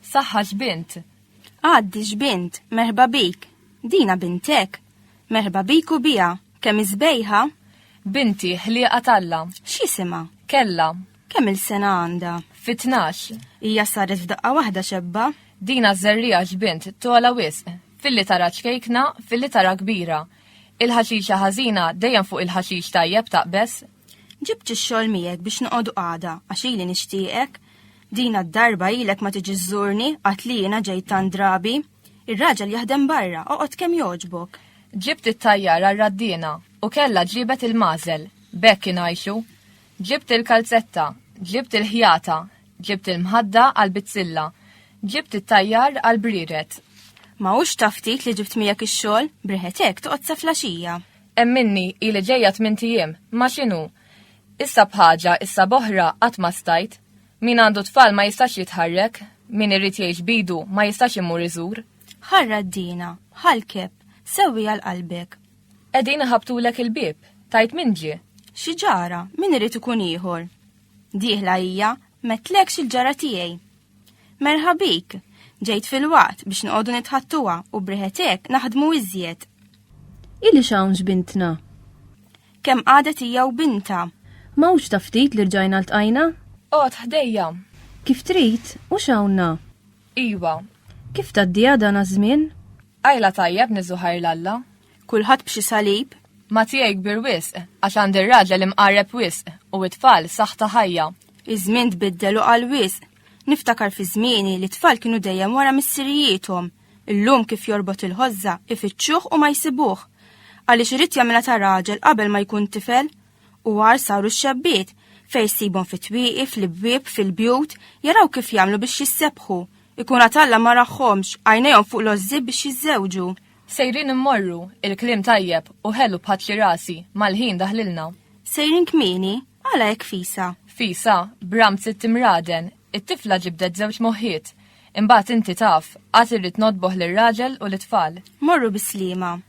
Saħħa x'bint. Għaddi x'bint, merħba bik. Dina bintek. Merħba bik u bija, kemm iżbejħa? Binti, ħlieqa talla. X'isima? Kella. Kemm il-sena għandha? Fi tnax. Hija saret f'daqqa waħda xebba. Dina żerriegħa x'bint tola wisq. Filli tara ċkejkna, filli tara kbira. Il-ħaxixa ħażina dejjem fuq il-ħaxix tajjeb taqbeż. Ġibt ix-xogħol miegħek biex noqogħdu għada għax ili nixtieqek. Dina d-darba ilek ma tiġi żżurni qatt li jiena ġejt tant drabi. Ir-raġel jaħdem barra, oqgħod kemm jogħġbok. Ġibt it-tajjar għar-raddiena u kellha ġiebet il-magħżel. B'hekk ingħixu. Ġibt il-kalzetta, ġibt il-ħjata, ġibt il-mħadda għall-bizzilla, ġibt it-tajjar għall-brired. Ma hux ta' ftit li ġibt miegħek ix-xogħol, b'riħet hekk toqgħod sa flaxija. Hemm minni ili ġejja tmint ijiem, ma x'inhu? Issa b'ħaġa, issa b'oħra, qatt ma stajt. Min għandu tfal ma jistax jitħarrek, min irid jgħix b'idu ma jistax imur iżur. Ħarra d-dina, ħa l-kepp, sewwiha l-qalbek. Qegħdin iħabbtulek il-bieb, tgħid min ġie. Xi ġara, min irid ikun ieħor? Dieħla hija, m'għedtlekx il-ġara tiegħi. Merħa bik, ġejt filwaqt biex noqogħdu nitħattuha u briħet hekk naħdmu iżjed. Ilix hawn x'bintna. Kemm qadet hija u bintha. M'hawnx ta' ftit li rġajna ltqajna? Qgħod ħdejja. Kif trid, u x'hawnna? Iwa. Kif tgħaddiha dan aż-żmien? Qajla tajjeb Niżu ħajr l-Alla. Kulħadd b'xi salib. Ma tiegħi kbir wisq, għax għandi r-raġel imqarreb wisq, u t-tfal saħħ ta' ħajja. Iż-żmien tbiddel u qal wisq. Niftakar fi żmieni li t-tfal kienu dejjem wara missirijiethom. Illum kif jorbot il-ħożża, ifittxuh u ma jsibuh. Għaliex irid jagħmilha ta' raġel qabel ma jkun tifel, U għar saru x-xebbiet, fej sibhom fit-twieqi, fl-ibwieb, fil-bjut, jaraw kif jagħmlu biex jissebħu. Ikun għad Alla ma raħhomx, għajnejhom fuq l-għożżieb biex jiżżewġu. Sejrin immorru, il-kliem tajjeb u ħelu b'ħatli rasi, mal-ħin daħlilna. Sejrin kmieni, għala hekk fisa? Fisa, b'ramt sitt imraden, it-tifla ġibdet żewġ moħħiet. Imbagħad inti taf, għad irrid nodboh lir-raġel u lit-tfal. Morru bis-sliema.